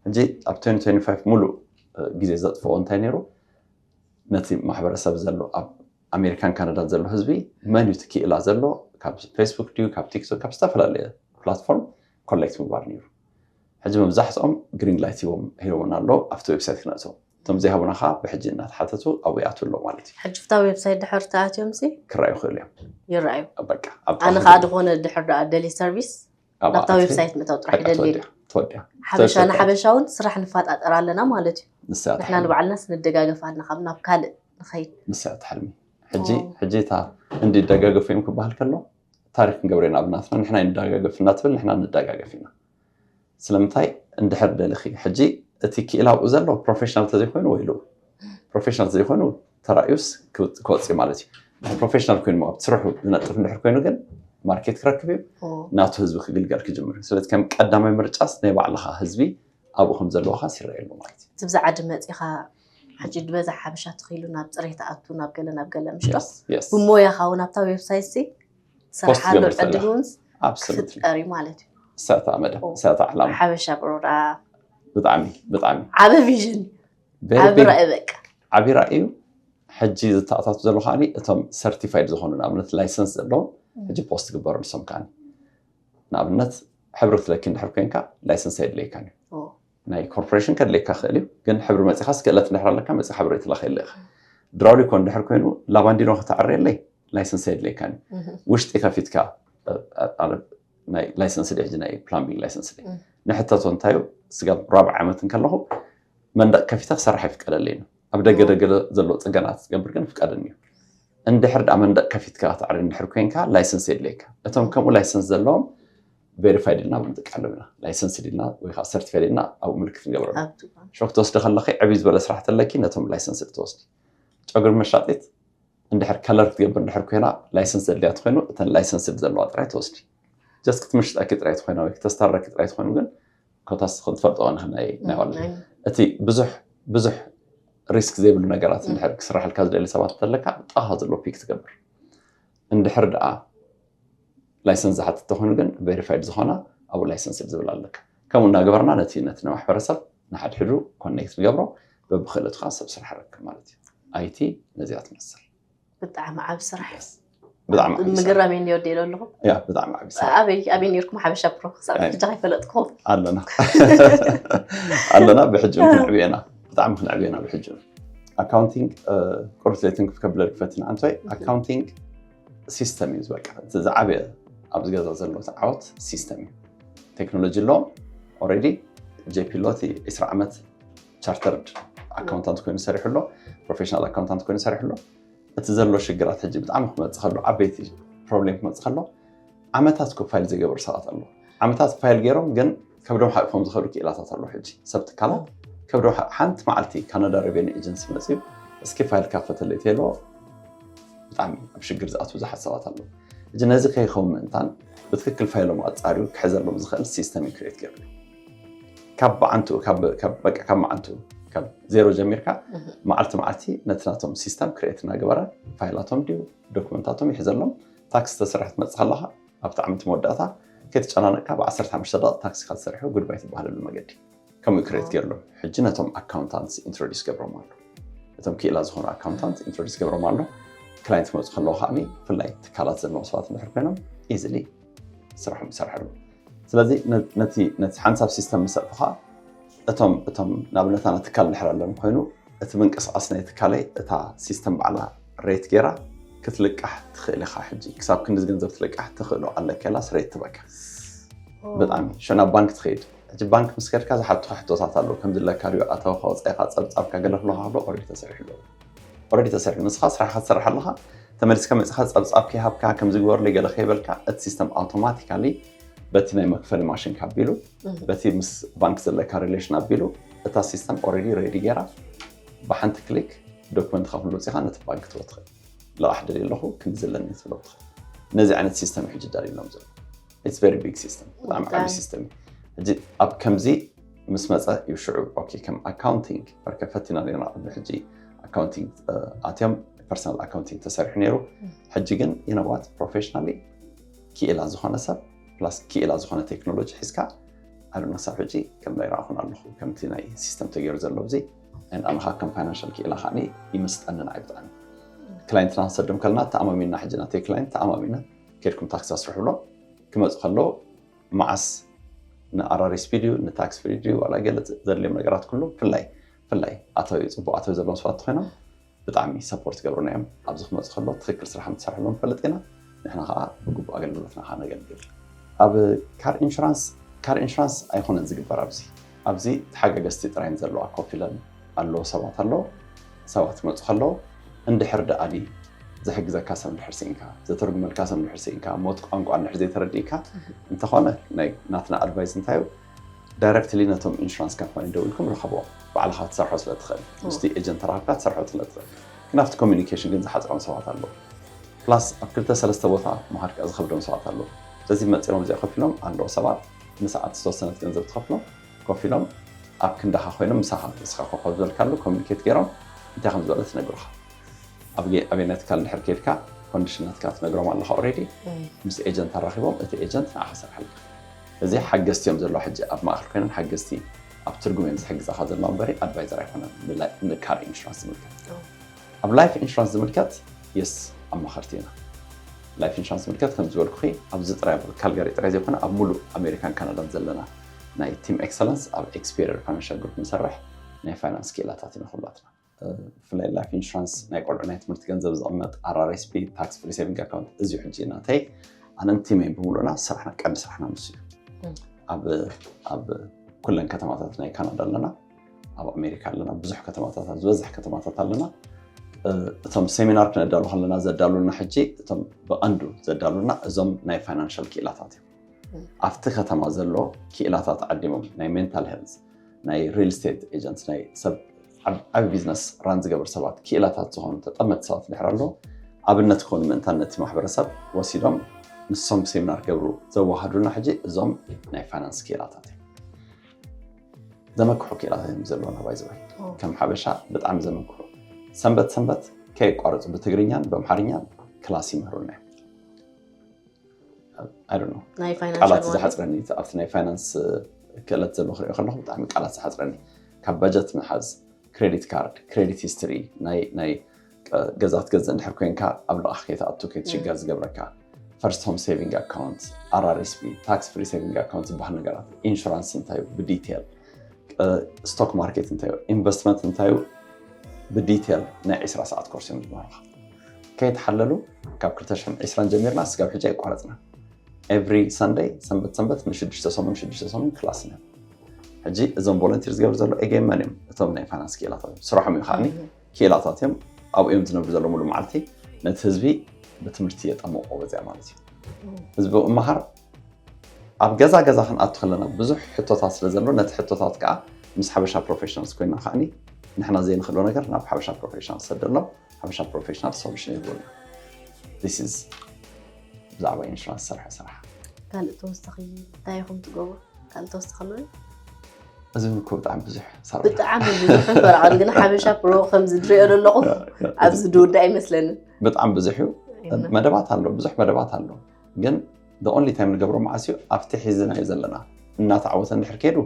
ሕጂ ኣብ 2025 ሙሉእ ግዜ ዘጥፍኦ እንታይ ነይሩ ነቲ ማሕበረሰብ ዘሎ ኣብ ኣሜሪካን ካናዳን ዘሎ ህዝቢ መን እዩ እቲ ክኢላ ዘሎ ካብ ፌስቡክ ድዩ ካብ ቲክቶክ ካብ ዝተፈላለየ ፕላትፎርም ኮሌክት ምግባር ነይሩ ሕጂ መብዛሕትኦም ግሪን ላይት ሂቦም ሂቦምና ኣሎ ኣብቲ ዌብሳይት ክነእተው እቶም ዘይሃቡና ከዓ ብሕጂ እናተሓተቱ ኣብኡ ይኣትው ኣሎ ማለት እዩ ሕጂ ብታ ዌብሳይት ድሕር ተኣትዮም ሲ ክረኣዩ ይኽእሉ እዮም ይረኣዩ በቃ ኣብ ኣነ ጥቓ ከዓ ዝኾነ ድሕር ደኣ ደሊ ሰርቪስ ናብታ ዌብሳይት ምእታው ጥራሕ ይደልየ ሓበሻ ንሓበሻ እውን ስራሕ ንፋጣጠር ኣለና ማለት እዩ ንሕና ንባዕልና ስንደጋገፍ ኣለና ካብ ናብ ካልእ ንኸይድ ንስያ ትሕልሚ ሕጂ ሕጂ እታ እንዲ ደጋገፉ እዮም ክበሃል ከሎ ታሪክ ክንገብረ ኢና ኣብናትና ንሕና ይንደጋገፍ እናትብል ንሕና ንደጋገፍ ኢና ስለምንታይ እንድሕር ደልኺ ሕጂ እቲ ክኢላ ኣብኡ ዘሎ ፕሮፌሽናል ተዘይኮይኑ ወይ ኢሉ ፕሮፌሽናል ዘይኮኑ ተራእዩስ ክወፅ እዩ ማለት እዩ ፕሮፌሽናል ኮይኑ ኣብ ስርሑ ዝነጥፍ እንድሕር ኮይኑ ግን ማርኬት ክረክብ እዩ ናቱ ህዝቢ ክግልገል ክጅምር እዩ ስለዚ ከም ቀዳማይ ምርጫስ ናይ ባዕልካ ህዝቢ ኣብኡ ከም ዘለዋካ ይረአ ኣሎ ማለት እዩ እቲ ብዛዕዲ መፂኻ ሕጂ ድበዛ ሓበሻ ትኽኢሉ ናብ ፅሬት ኣቱ ናብ ገለ ናብ ገለ ምሽጦ ብሞያኻ እውን ኣብታ ዌብሳይት ሲ ስርሓሉ ዕድል እውን ክፍጠር እዩ ማለት እዩ ሰታ መደ ሰታ ዕላማ ሓበሻ ብሮዳ ብጣዕሚ ብጣዕሚ ዓበ ቪዥን ዓቢ ራእይ በቃ ዓቢ ራእዩ ሕጂ ዝተኣታቱ ዘሎ ከዓኒ እቶም ሰርቲፋይድ ዝኾኑ ንኣብነት ላይሰንስ ዘለዎም ሕጂ ፖስት ግበሩ ንሶም ከዓኒ ንኣብነት ሕብሪ ትለኪ እንድሕር ኮንካ ላይሰንስ ኣይድለየካን እዩ ናይ ኮርፖሬሽን ከድለየካ ክእል እዩ ግን ሕብሪ መፂኻ ስክእለት እንድሕር ኣለካ መፂ ሕብሪ ትለኸየለ ኢኻ ድራውሊኮ እንድሕር ኮይኑ ላባንዲኖ ከተዕርየለይ ላይሰንስ ኣይድለየካን እዩ ውሽጢ ከፊትካ ናይ ላይሰንስ ድ ሕጂ ናይ ፕላምቢንግ ላይሰንስ ድ ንሕተቶ እንታዩ ስጋብ ራብዓ ዓመት እንከለኹ መንደቕ ከፊተ ክሰርሕ ኣይፍቀደለይን ኣብ ደገ ደገ ዘለዎ ፅገናት ዝገብር ግን ፍቀደኒ እዩ እንድሕር ዳኣ መንደቕ ከፊትካ ክትዕሪ እንድሕር ኮንካ ላይሰንስ የድልየካ እቶም ከምኡ ላይሰንስ ዘለዎም ቬሪፋይድ ኢልና እውን ንጥቀሎም ኢና ላይሰንስ ኢልና ወይ ከዓ ሰርቲፋይድ ኢልና ኣብኡ ምልክት ንገብረሉ ሾክ ትወስዲ ከለኺ ዕብይ ዝበለ ስራሕ ተለኪ ነቶም ላይሰንስ ትወስዲ ጨጉሪ መሻጢት እንድሕር ከለር ክትገብር እንድሕር ኮይና ላይሰንስ ዘድልያ ትኮይኑ እተን ላይሰንስ ዘለዋ ጥራይ ትወስዲ ጀስት ክትምሽጠኪ ጥራይ ትኮይና ወይ ክተስታረኪ ጥራይ ትኮይኑ ግን ኮታስ ትኹን ትፈልጥኦ ንሕና ናይ እቲ ብዙሕ ብዙሕ ሪስክ ዘይብሉ ነገራት እንድሕር ክስራሕልካ ዝደሊ ሰባት እንተለካ ብጣኻ ዘሎ ፒክ ትገብር እንድሕር ደኣ ላይሰንስ ዝሓትት ተኾይኑ ግን ቬሪፋይድ ዝኾና ኣብኡ ላይሰንስ ዝብል ኣለካ ከምኡ እናገበርና ነቲ ነቲ ንማሕበረሰብ ንሓድሕዱ ኮኔክት ንገብሮ በብክእለትካ ሰብ ስራሕ ረክብ ማለት እዩ ኣይቲ ነዚኣ ትመስል ብጣዕሚ ዓብ ስራሕ ብጣዕሚ ዓቢ ስራሕ። ምግረም እዩ ኒወዲ ኢለ ኣለኹ ያ ብጣዕሚ ዓቢ ስራሕ ኣበይ ኣበይ ነርኩም ሓበሻ ፕሮ ክሳብ ኣይ። ሕጂ ከይፈለጥኩም ኣለና ኣለና ብሕጂ እውን ክንዕብዮ ኢና ብጣዕሚ ክንዕብዮ ኢና ብሕጂ እውን። ኣካውንቲንግ እ፣ ቁርስ ዘይትን ክከብለል ክፈትን ኣንታይ ኣካውንቲንግ ሲስተም እዩ ዝበቃ እቲ ዝዓበየ ኣብዚ ገዛ ዘሎ ዓወት ሲስተም እዩ ቴክኖሎጂ ኣለዎም ኦልሬዲ ጄፒ ሎቲ 20 ዓመት ቻርተርድ ኣካውንታንት ኮይኑ ሰሪሑ ኣሎ ፕሮፌሽናል ኣካውንታንት ኮይኑ ሰሪሑ ኣሎ እቲ ዘሎ ሽግራት ሕጂ ብጣዕሚ ክመፅእ ከሎ ዓበይቲ ፕሮብሌም ክመፅእ ከሎ ዓመታት ኮ ፋይል ዘይገበሩ ሰባት ኣሎ ዓመታት ፋይል ገይሮም ግን ከብዶም ሓቂፎም ዝኸዱ ክኢላታት ኣሎ ሕጂ ሰብ ትካላት ከብዶም ሓንቲ መዓልቲ ካናዳ ሬቨኒ ኤጀንሲ መፅዩ እስኪ ፋይል ካፈተለይ ተሎ ብጣዕሚ ኣብ ሽግር ዝኣትው ብዙሓት ሰባት ኣለዉ እዚ ነዚ ከይኸውን ምእንታን ብትክክል ፋይሎም ኣፃርዩ ክሕዘሎም ዝኽእል ሲስተም ክሬት ገይሩ ካብ መዓንትኡ ካብ መዓንትኡ ካብ ዜሮ ጀሚርካ መዓልቲ መዓልቲ ነቲ ናቶም ሲስተም ክሬት እናገበረ ፋይላቶም ድዩ ዶክመንታቶም ይሕዘሎም ታክሲ ተሰራሕ ትመፅእ ከለካ ኣብቲ ዓመት መወዳእታ ከይተጨናነቅካ ብዓሰርተ ሓሙሽተ ደቂቅ ታክሲካ ተሰሪሑ ጉድባይ ትበሃለሉ መገዲ ከምኡ ክሬት ገይርሎም ሕጂ ነቶም ኣካውንታንት ኢንትሮዲስ ገብሮም ኣሎ እቶም ክኢላ ዝኾኑ ኣካውንታንት ኢንትሮዲስ ገብሮም ኣሎ ክላይንት ክመፁ ከለዎ ከዓ ብፍላይ ትካላት ዘለዎም ሰባት እንድሕር ኮይኖም ኢዝሊ ስርሖም ይሰርሑ ኣለዉ ስለዚ ነቲ ሓንሳብ ሲስተም መሰጥኻ እቶም እቶም ንኣብነት ኣነ ትካል እንድሕር ኣለኒ ኮይኑ እቲ ምንቅስቓስ ናይ ትካለይ እታ ሲስተም ባዕላ ሬት ገይራ ክትልቃሕ ትኽእል ኢኻ ሕጂ ክሳብ ክንዲ ገንዘብ ትልቃሕ ትኽእሎ ኣለካ ኢላ ስሬት ትበካ ብጣዕሚ ሸና ባንክ ትኸይድ ሕጂ ባንክ ምስ ከድካ ዝሓቱኻ ሕቶታት ኣለዉ ከምዚ ለካ ድዩ ኣተወካ ወፃኢኻ ፀብፃብካ ገለ ክለካ ከሎ ኦልሬዲ ተሰሪሑ ኣለዉ ኦረዲ ተሰሪሑ ንስኻ ስራሕኻ ትሰርሕ ኣለኻ ተመሊስካ መፅኻ ፀብፃብ ከይሃብካ ከምዚ ግበርለይ ገለ ከይበልካ እቲ ሲስተም ኣውቶማቲካሊ በቲ ናይ መክፈሊ ማሽንካ ኣቢሉ በቲ ምስ ባንክ ዘለካ ሪሌሽን ኣቢሉ እታ ሲስተም ኦልሬዲ ሬዲ ገይራ ብሓንቲ ክሊክ ዶክመንትካ ኩሉ ውፅኢኻ ነቲ ባንክ ትበ ትኽእል ልቓሕ ደልየ ኣለኹ ክንዲ ዘለኒ ትብሎ ትኽእል ነዚ ዓይነት ሲስተም ሕጂ ደሪሎም ዘሎ ኢትስ ቨሪ ቢግ ሲስተም ብጣዕሚ ዓብዪ ብጣዕሚ። ሲስተም እዩ ሕጂ ኣብ ከምዚ ምስ መፀ እዩ ሽዑ ኦኬ ከም ኣካውንቲንግ በርከ ፈቲና ነርና ቅድሚ ሕጂ ኣካውንቲንግ ኣትዮም ፐርሰናል ኣካውንቲንግ ተሰሪሑ ነይሩ ሕጂ ግን ይነዋት ፕሮፌሽናሊ ክኢላ ዝኾነ ሰብ ፕላስ ክኢላ ዝኾነ ቴክኖሎጂ ሒዝካ ኣነ ክሳብ ሕጂ ከም ናይ ረኣኹን ኣለኹ ከምቲ ናይ ሲስተም ተገይሩ ዘሎ እዚ ኣንኣንኻ ከም ፋይናንሻል ክኢላ ከዓ ይምስጠንን ኣይ ብጣዕሚ ክላይንትና ክንሰዶም ከለና ተኣማሚንና ሕጂ ናተይ ክላይንት ተኣማሚነ ኬድኩም ታክሲ ኣስርሕሎም ክመፁ ከሎ መዓስ ንኣራሪ ስፒድ እዩ ንታክስ ፍሪ ድዩ ዋላ ገለ ዘድልዮም ነገራት ኩሉ ፍላይ ፍላይ ኣተዊ ፅቡቅ ኣተዊ ዘለዎም ሰባት እንተኮይኖም ብጣዕሚ ሰፖርት ይገብሩና እዮም ኣብዚ ክመፁ ከሎ ትክክል ስራሕ ምትሰርሕሎም ንፈልጥ ኢና ንሕና ከዓ ብግቡእ ኣገልግሎትና ከዓ ነገልግል ኣብ ካር ኢንሹራንስ ካር ኢንሹራንስ ኣይኮነን ዝግበር ኣብዚ ኣብዚ ተሓጋገዝቲ ጥራየን ዘለዋ ኮፍ ኢለን ኣለዎ ሰባት ኣለዉ ሰባት ክመፁ ከለዉ እንድሕር ደኣሊ ዝሕግዘካ ሰብ እንድሕር ስኢንካ ዘተርጉመልካ ሰብ እንድሕር ስኢንካ ሞት ቋንቋ እንድሕር ዘይተረዲእካ እንተኾነ ናይ ናትና ኣድቫይስ እንታይ እዩ ዳይረክትሊ ነቶም ኢንሹራንስ ካምፓኒ ደው ኢልኩም ረኸብዎም ባዕልኻ ትሰርሖ ስለ ትኽእል ምስቲ ኤጀንት ተራኽብካ ትሰርሖ ስለ ትኽእል ግን ኣብቲ ኮሚኒኬሽን ግን ዝሓፅሮም ሰባት ኣለዉ ፕላስ ኣብ ክልተ ሰለስተ ቦታ ምሃድ ከኣ ዝኸብዶም ሰባት ኣለዉ ስለዚ መፂኦም እዚኣ ኮፍ ኢሎም ኣለዉ ሰባት ንሰዓት ዝተወሰነት ገንዘብ ትኸፍሎም ኮፍ ኢሎም ኣብ ክንዳኻ ኮይኖም ምሳኻ ንስኻ ኮፍ ኣብ ዝበልካሉ ኮሙኒኬት ጌሮም እንታይ ከም ዝበለት ይነግሩኻ ኣብ ኣበየናይ ትካል እንድሕር ከይድካ ኮንዲሽን ናትካ ትነግሮም ኣለኻ ኦልሬዲ ምስ ኤጀንት ኣራኺቦም እቲ ኤጀንት ንዓኻ ክሰርሓልካ እዚ ሓገዝቲ እዮም ዘለዋ ሕጂ ኣብ ማእኸል ኮይነን ሓገዝቲ ኣብ ትርጉም እዮም ዝሕግዛኻ ዘለዋ እምበሪ ኣድቫይዘር ኣይኮነን ንካር ኢንሹራንስ ዝምልከት ኣብ ላይፍ ኢንሹራንስ ዝምልከት የስ ኣማኸርቲ ኢና። ላይፍ ኢንሹራንስ ዝምልከት ከምዚ ዝበልኩኺ ኣብዚ ጥራይ ኣብ ካልጋሪ ጥራይ ዘይኮነ ኣብ ሙሉእ ኣሜሪካን ካናዳን ዘለና ናይ ቲም ኤክሰለንስ ኣብ ኤክስፔሪየር ፋይናንሻል ግሩፕ ንሰርሕ ናይ ፋይናንስ ክኢላታት ኢና ኩላትና። ብፍላይ ላይፍ ኢንሹራንስ ናይ ቆልዑ ናይ ትምህርቲ ገንዘብ ዝቕመጥ RRSP ታክስ ፍሪ ሴቪንግ ኣካውንት እዚዩ ሕጂ ናተይ ኣነን ቲመይን ብምሉእና ስራሕና ቀንዲ ስራሕና ንሱ እዩ። ኣብ ኩለን ከተማታት ናይ ካናዳ ኣለና። ኣብ ኣሜሪካ ኣለና ብዙሕ ከተማታት ኣብ ዝበዝሕ ከተማታት ኣለና እቶም ሴሚናር ክነዳሉ ከለና ዘዳሉና ሕጂ እቶም ብቐንዱ ዘዳሉና እዞም ናይ ፋይናንሻል ክኢላታት እዮም ኣብቲ ከተማ ዘሎ ክኢላታት ዓዲሞም ናይ ሜንታል ሄልዝ ናይ ሪል ስቴት ኤጀንት ናይ ሰብ ዓቢ ቢዝነስ ራን ዝገብር ሰባት ክኢላታት ዝኾኑ ተጠመቲ ሰባት ድሕር ኣሎ ኣብነት ክኾኑ ምእንታን ነቲ ማሕበረሰብ ወሲዶም ንሶም ሴሚናር ገብሩ ዘዋሃዱና ሕጂ እዞም ናይ ፋይናንስ ክኢላታት እዮም ዘመክሑ ክኢላት እዮም ዘለውና ባይዘወይ ከም ሓበሻ ብጣዕሚ ዘመክሑ ሰንበት ሰንበት ከየቋረፁ ብትግርኛን ብኣምሓርኛን ክላስ ይምህሩና እዮም ቃላት ዝሓፅረኒ ኣብቲ ናይ ፋይናንስ ክእለት ዘሎ ክሪኦ ከለኩ ብጣዕሚ ቃላት ዝሓፅረኒ ካብ በጀት ምሓዝ ክሬዲት ካርድ ክሬዲት ሂስትሪ ናይ ገዛ ትገዝእ እንድሕር ኮይንካ ኣብ ልቓሕ ከይትኣቱ ከይትሽገር ዝገብረካ ፈርስት ሆም ሴቪንግ ኣካውንት፣ RRSP፣ ታክስ ፍሪ ሴቪንግ ኣካውንት ዝበሃል ነገራት፣ ኢንሹራንስ እንታይ እዩ ብዲቴል፣ ስቶክ ማርኬት እንታይ እዩ፣ ኢንቨስትመንት እንታይ እዩ ብዲቴል ናይ 20 ሰዓት ኮርስ እዮም ዝመሃሩካ ከይተሓለሉ ካብ 220 ጀሚርና ስጋብ ሕጂ ኣይቋረፅና ኤቭሪ ሰንደይ ሰንበት ሰንበት ንሽዱሽተ ሰሙን ሽዱሽተ ሰሙን ክላስ ኢና ሕጂ እዞም ቮለንቲር ዝገብሩ ዘሎ ኤጌን መን እዮም እቶም ናይ ፋይናንስ ክኢላታት እዮም ስራሖም እዩ ከዓኒ ክኢላታት እዮም ኣብኡ እዮም ዝነብሩ ዘለዉ ሙሉ መዓልቲ ነቲ ህዝቢ ብትምህርቲ የጠምቆ ወፅያ ማለት እዩ ህዝቢ እምሃር ኣብ ገዛ ገዛ ክንኣቱ ከለና ብዙሕ ሕቶታት ስለ ዘሎ ነቲ ሕቶታት ከዓ ምስ ሓበሻ ፕሮፌሽናልስ ኮይና ከዓኒ ንሕና ዘይንኽእሎ ነገር ናብ ሓበሻ ፕሮፌሽናል ሰደሎ ሓበሻ ፕሮፌሽናል ሶሉሽን ይህቡና ስ ብዛዕባ ኢንሹራንስ ዝሰርሐ ስራሕ ካልእ ተወሳኺ እንታይ ኢኹም ትገብሩ ካልእ ተወሳኺ ኣሎ እዚ እውን እኮ ብጣዕሚ ብዙሕ ሳሮን ብጣዕሚ ብዙሕ እምበር ዓል ግን ሓበሻ ፕሮ ከምዚ ድሪኦ ዘለኹ ኣብዚ ድውዳእ ኣይመስለንን ብጣዕሚ ብዙሕ እዩ መደባት ኣሎ ብዙሕ መደባት ኣሎ ግን ኦንሊ ታይም ንገብሮ መዓስ እዩ ኣብቲ ሒዝናዮ ዘለና እናተዓወተ እንድሕር ከይዱ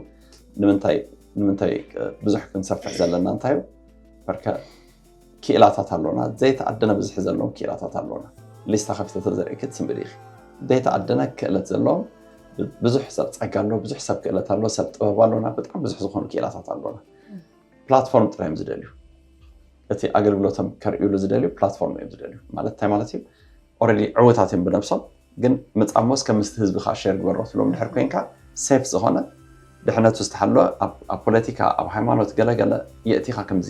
ንምንታይ ብዙሕ ክንሰፍሕ ዘለና እንታይ እዩ በርከ ክኢላታት ኣሎና ዘይተኣደነ ብዝሒ ዘለዎም ክኢላታት ኣሎና ሊስታ ከፊተ ተዘርእኪ ትስንብዲ ኢኺ ዘይተኣደነ ክእለት ዘለዎም ብዙሕ ሰብ ፀጋ ኣሎ ብዙሕ ሰብ ክእለት ኣሎ ሰብ ጥበብ ኣሎና ብጣዕሚ ብዙሕ ዝኾኑ ክኢላታት ኣሎና ፕላትፎርም ጥራይ እዮም ዝደልዩ እቲ ኣገልግሎቶም ከርእዩሉ ዝደልዩ ፕላትፎርም እዮም ዝደልዩ ማለት እንታይ ማለት እዩ ኦረዲ ዕውታት እዮም ብነብሶም ግን ምፃሞስ ከም ምስቲ ህዝቢ ከዓ ሸር ግበሮ ትብሎም ድሕር ኮንካ ሴፍ ዝኾነ ድሕነቱ ዝተሓለወ ኣብ ፖለቲካ ኣብ ሃይማኖት ገለገለ የእቲኻ ከምዚ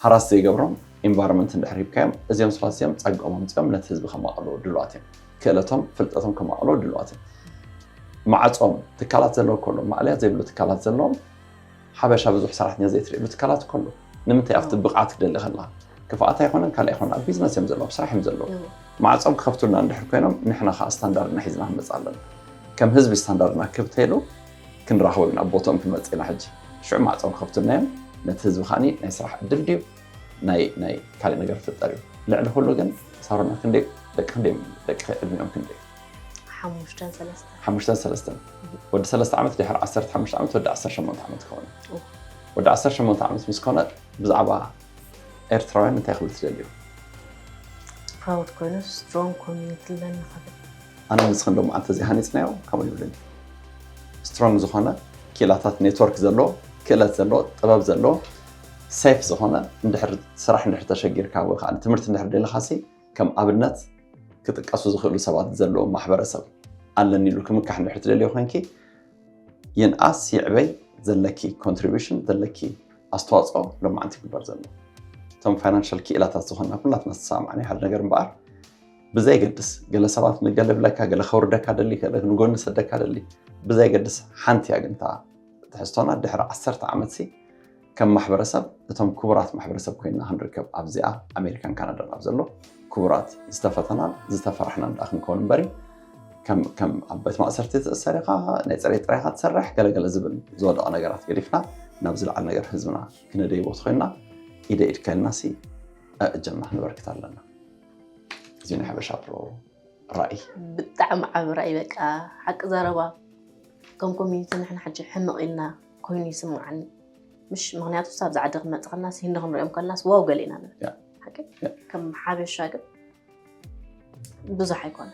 ሓራስ ዘይገብሮም ኢንቫይሮመንት እንድሕር ሂብካዮም እዚኦም ሰባት እዚኦም ፀግኦም ኣምፂኦም ነቲ ህዝቢ ከማቕልዎ ድሉዋት እዮም። ክእለቶም ፍልጠቶም ከማቕልዎ ድሉዋት እዮም። ማዕፆም ትካላት ዘለዎ ከሎ ማዕለያ ዘይብሉ ትካላት ዘለዎም ሓበሻ ብዙሕ ሰራሕተኛ ዘይትርእሉ ትካላት እኮ ኣሎ። ንምንታይ ኣብቲ ብቕዓት ክደሊ ከለካ ክፍኣት ኣይኮነን ካልእ ኣይኮነን ኣብ ቢዝነስ እዮም ዘለዉ ኣብ ስራሕ እዮም ዘለዉ ማዕፆም ክኸፍቱልና እንድሕር ኮይኖም ንሕና ከዓ ስታንዳርድና ሒዝና ክንመፅእ ኣለና ከም ህዝቢ ስታንዳርድና ክብ ተይሉ ክንራኸቦም ኢና ቦትኦም ክንመፅእ ኢና ሕጂ ሽዑ ማዕፆ ክኸፍቱልና እዮም ነቲ ህዝቢ ከዓኒ ናይ ስራሕ ዕድል ድዩ ናይ ናይ ካሊእ ነገር ክፍጠር እዩ ልዕሊ ኩሉ ግን ሳሮና ክንደይ ደቂ ክንደይ ደቂ ዕድሚኦም ክንደይ ሓሙሽተን ሰለስተን ሓሙሽተን ሰለስተን ወዲ ሰለስተ ዓመት ድሕሪ ዓሰርተ ሓሙሽተ ዓመት ወዲ ዓሰርተ ሸሞንተ ዓመት ክኸውን እዩ ወዲ ዓሰርተ ሸሞንተ ዓመት ምስ ኮነ ብዛዕባ ኤርትራውያን እንታይ ክብል ትደልዩ? ፕራውድ ኮይኑ ስትሮንግ ኮሚኒቲ ኣለኒ ክብል ኣነ ንስኽን ዶ መዓልቲ እዚ ሃኒፅናዮ ከምኡ ይብልን ስትሮንግ ዝኾነ ክኢላታት ኔትወርክ ዘለዎ ክእለት ዘለዎ ጥበብ ዘለዎ ሴፍ ዝኾነ እንድሕር ስራሕ እንድሕር ተሸጊርካ ወይ ከዓ ትምህርቲ እንድሕር ደለኻሲ ከም ኣብነት ክጥቀሱ ዝኽእሉ ሰባት ዘለዎ ማሕበረሰብ ኣለኒ ኢሉ ክምካሕ እንድሕር ትደልዮ ኮንኪ ይንኣስ ይዕበይ ዘለኪ ኮንትሪቢሽን ዘለኪ ኣስተዋፅኦ ሎማዓንቲ ይግበር ዘሎ እቶም ፋይናንሻል ክኢላታት ዝኾንና ኩላትና ዝተሰማዕናዮ ሓደ ነገር እምበኣር ብዘይገድስ ገለ ሰባት ንገለ ብለካ ገለ ከውርደካ ደሊ ገለ ንጎኒ ሰደካ ደሊ ብዘይገድስ ሓንቲ እያ ግን እታ ትሕዝቶና ድሕሪ ዓሰርተ ዓመት ሲ ከም ማሕበረሰብ እቶም ክቡራት ማሕበረሰብ ኮይና ክንርከብ ኣብዚኣ ኣሜሪካን ካናዳን ኣብ ዘሎ ክቡራት ዝተፈተናን ዝተፈራሕናን ዳኣ ክንከውን እምበሪ ከም ኣብ ቤት ማእሰርቲ ትእሰር ኢኻ ናይ ፅሬት ጥራይ ኢኻ ትሰርሕ ገለገለ ዝብል ዝወደቐ ነገራት ገዲፍና ናብ ዝለዓል ነገር ህዝብና ክነደይቦ ተኮይንና ኢደ ኢድ ከልና ሲ ኣእጀና ክንበርክት ኣለና እዚ ናይ ሓበሻ ብሮ ራእይ ብጣዕሚ ዓብ ራእይ በቃ ሓቂ ዘረባ ከም ኮሚኒቲ ንሕና ሕጂ ሕንቕ ኢልና ኮይኑ ይስምዓኒ ምሽ ምክንያቱ ሳብ ዝዓዲ ክመፅ ከናስ ህንዲ ክንሪኦም ከናስ ዋው ገሊና ከም ሓበሻ ግን ብዙሕ ኣይኮነ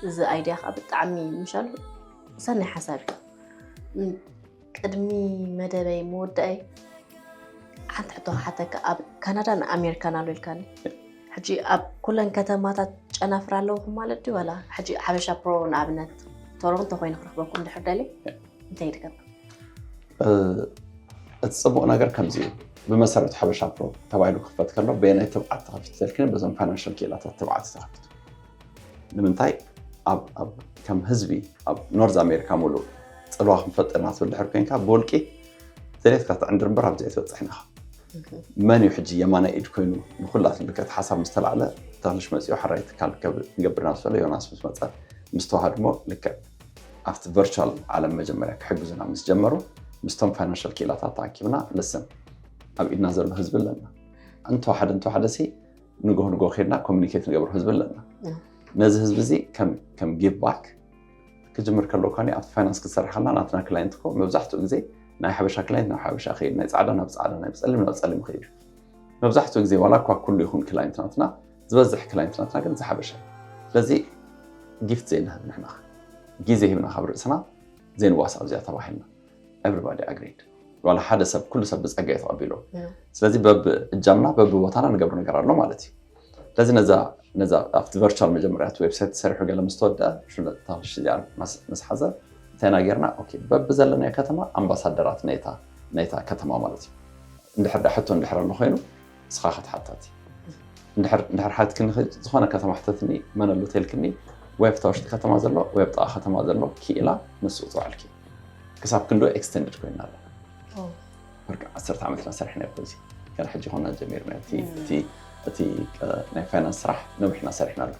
እዚ ኣይድያ ከዓ ብጣዕሚ ምሻሉ ሰናይ ሓሳብ እዩ ቅድሚ መደበይ መወዳእይ ሓንቲ ሕቶ ሓተካ ኣብ ካናዳን ኣሜሪካን ኣሎ ኢልካኒ ሕጂ ኣብ ኩለን ከተማታት ጨናፍር ኣለውኹም ማለት ድዩ ዋላ ሕጂ ሓበሻ ፕሮ ንኣብነት ቶሮንቶ ኮይኑ ክረክበኩም ድሕር ደልየ እንታይ ይድገም? እቲ ፅቡቕ ነገር ከምዚ እዩ ብመሰረት ሓበሻ ፕሮ ተባሂሉ ክኽፈት ከሎ በየናይ ትብዓት ተኸፊቱ ተልክነ በዞም ፋይናንሻል ክኢላታት ትብዓት ተኸፊቱ ንምንታይ ከም ህዝቢ ኣብ ኖርዝ ኣሜሪካ ሙሉእ ፅልዋ ክንፈጥር ኢና ትብል ድሕር ኮንካ ብውልቂ ዘሌትካ ትዕንድር እምበር ኣብዚ ኣይትበፅሕን ኢኻ መን እዩ ሕጂ የማናይ ኢድ ኮይኑ ንኩላ ትምልከት ሓሳብ ምስ ተላዕለ ተኽልሽ መፂኡ ሓራይ ትካል ንገብርና ዝበለ ዮናስ ምስ መፀ ምስ ተዋሃድሞ ልክዕ ኣብቲ ቨርቹዋል ዓለም መጀመርያ ክሕግዙና ምስ ጀመሩ ምስቶም ፋይናንሻል ክኢላታት ተኣኪብና ልስን ኣብ ኢድና ዘሎ ህዝቢ ኣለና እንተዋሓደ እንተዋሓደ ሲ ንጎ ንጎ ከድና ኮሚኒኬት ንገብሮ ህዝቢ ኣለና ነዚ ህዝቢ እዚ ከም ጊቭ ባክ ክጅምር ከለዎ ኳ ኣብቲ ፋይናንስ ክትሰርሓልና ናትና ክላይንት ኮ መብዛሕትኡ ግዜ ናይ ሓበሻ ክላይንት ናብ ሓበሻ ክይድ ናይ ፃዕዳ ናብ ፃዕዳ ናይ ፀሊም ናብ ፀሊም ክይድ መብዛሕትኡ ግዜ ዋላ እኳ ኩሉ ይኹን ክላይንት ናትና ዝበዝሕ ክላይንትናትና ግን ዝሓበሻ እዩ ስለዚ ጊፍት ዘይንህብ ንሕና ግዜ ሂብና ካብ ርእስና ዘይንዋስ ኣብዚኣ ተባሂልና ኤቨሪባዲ ኣግሪድ ዋላ ሓደ ሰብ ኩሉ ሰብ ብፀጋ እዩ ተቐቢሎ ስለዚ በብ እጃምና በብ ቦታና ንገብሮ ነገር ኣሎ ማለት እዩ ስለዚ ነዛ ነዛ ኣብቲ ቨርቹዋል መጀመርያት ዌብሳይት ተሰሪሑ ገለ ምስ ተወድአ ሽለት ታሽ እዚኣ ምስ ሓዘ እንታይና ጌርና ኦኬ በብ ዘለናዮ ከተማ ኣምባሳደራት ናይታ ናይታ ከተማ ማለት እዩ እንድሕር ዳ ሕቶ እንድሕር ኣሎ ኮይኑ ንስኻ ክትሓታቲ እንድሕር እንድሕር ሓትክኒ ኸ- ዝኾነ ከተማ ሕተትኒ መን ኣሎ ተልክኒ ወይ ኣብታ ውሽጢ ከተማ ዘሎ ወይ ኣብ ጥቓ ከተማ ዘሎ ክኢላ ንስኡ ትውዕልኪ ክሳብ ክንዶ ኤክስተንድድ ኮይና ኣላ ኦ፣ ብርቂ ዓሰርተ ዓመትና ሰሪሕና ይኮ እዚ ገና ሕጂ ኮና ጀሚርና እቲ እቲ እቲ ቀ- ናይ ፋይናንስ ስራሕ ነዊሕና ሰሪሕና ኣሎ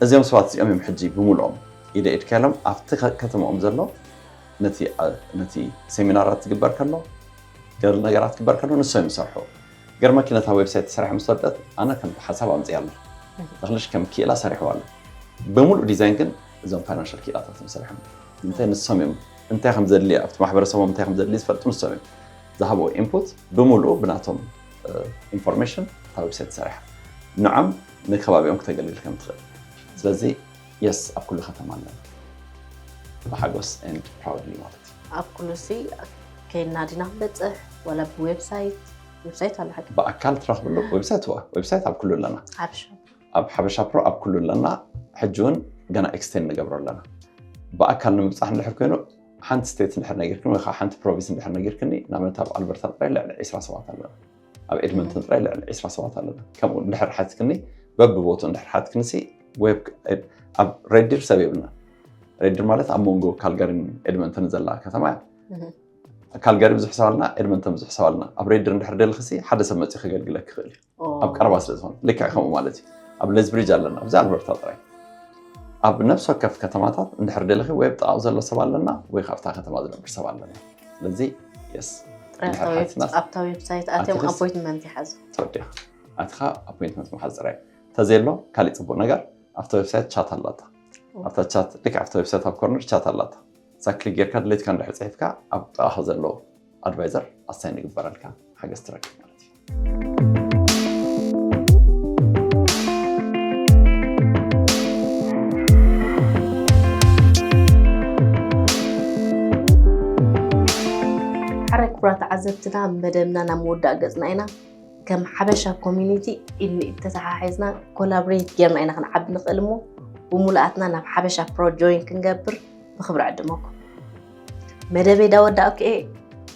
እዚኦም ሰባት እዚኦም እዮም ሕጂ ብምልኦም ኢደ ኢድካ ኢሎም ኣብቲ ከተመኦም ዘሎ ነቲ ነቲ ሴሚናራት ዝግበር ከሎ ገለ ነገራት ክግበር ከሎ ንሶም እዮም ዝሰርሑ ገር መኪነታ ዌብሳይት ተሰሪሐ ምስ ወደት ኣነ ከም ሓሳብ ኣምፅያ ኣሎ ተኽልሽ ከም ክኢላ ሰሪሕዋ ኣሎ ብምሉእ ዲዛይን ግን እዞም ፋይናንሻል ክኢላታት እዮም ሰሪሖም እንታይ ንሶም እዮም እንታይ ከም ዘድሊ ኣብቲ ማሕበረሰቦም እንታይ ከም ዘድሊ ዝፈልጡ ንሶም እዮም ዝሃብዎ ኢንፑት ብምሉእ ብናቶም ኢንፎርሜሽን እታ ዌብሳይት ተሰሪሓ ንዖም ንከባቢኦም ክተገልግል ከም ትኽእል ስለዚ የስ ኣብ ኩሉ ከተማ ኣለና ብሓጎስ and proudly ማለት እዩ። ኣብ ኩሉሲ ከይድና ዲና ክንበፅሕ ዋላ ብዌብሳይት ዌብሳይት ኣሎ ሓቂ ብኣካል ትረኽብሉ ዌብሳይት ዋ ዌብሳይት ኣብ ኩሉ ኣለና ሓብሻ ኣብ ሓበሻ ፕሮ ኣብ ኩሉ ኣለና ሕጂ እውን ገና ኤክስቴንድ ንገብሮ ኣለና ብኣካል ንምብፃሕ እንድሕር ኮይኑ ሓንቲ ስቴት እንድሕር ነጊርክኒ ወይ ከዓ ሓንቲ ፕሮቪንስ እንድሕር ነጊርክኒ ንኣብነት ኣብ ኣልበርታ ጥራይ ልዕሊ ዒስራ ሰባት ኣለና ኣብ ኤድመንተን ጥራይ ልዕሊ ዒስራ ሰባት ኣለና። ከምኡ እንድሕር ሓትክኒ በብቦትኡ እንድሕር ሓትክኒሲ ኣብ ሬድዲር ሰብ የብልናን። ሬድዲር ማለት ኣብ መንጎ ካልጋሪን ኤድመንተንን ዘላ ከተማ እያ። ካልጋሪ ብዙሕ ሰብ ኣለና፣ ኤድመንተን ብዙሕ ሰብ ኣለና። ኣብ ሬድዲር እንድሕር ደልክሲ ሓደ ሰብ መፂኡ ከገልግለክ ይኽእል እዩ። ኣብ ቀረባ ስለ ዝኾነ ልክዕ ከምኡ ማለት እዩ። ኣብ ሌዝብሪጅ ኣለና፣ ኣብዚ ኣልበርታ ጥራይ። ኣብ ነፍሲ ወከፍ ከተማታት እንድሕር ደልኺ ወይ ኣብ ጥቓኡ ዘሎ ሰብ ኣለና ወይ ካብታ ከተማ ዝነብር ሰብ ኣለና። ስለዚ የስ ኣብታ ዌብሳይት ኣትዮም ኣፖይንትመንት ይሓዙ ተወዲኻ ኣትኻ ኣፖይንትመንት ምሓዝ ጥራይ ተዘሎ ካሊእ ፅቡቅ ነገር ኣብታ ዌብሳይት ቻት ኣላታ ኣብታ ቻት ልክ ኣብታ ዌብሳይት ኣብ ኮርነር ቻት ኣላታ እዛ ክሊክ ጌርካ ድሌትካ እንድሕር ፅሒፍካ ኣብ ጥቓኻ ዘሎ ኣድቫይዘር ኣሳይን ይግበረልካ ሓገዝ ትረክብ ማለት እዩ ሓራይ ክቡራ ተዓዘብትና መደብና ናብ መወዳእ ገፅና ኢና ከም ሓበሻ ኮሚኒቲ ኢድ ንኢድ ተተሓሒዝና ኮላብሬት ጌርና ኢና ክንዓቢ ንኽእል እሞ ብምሉኣትና ናብ ሓበሻ ፕሮ ጆይን ክንገብር ብክብሪ ዕድመኩም መደበይ ዳወዳእኩ እየ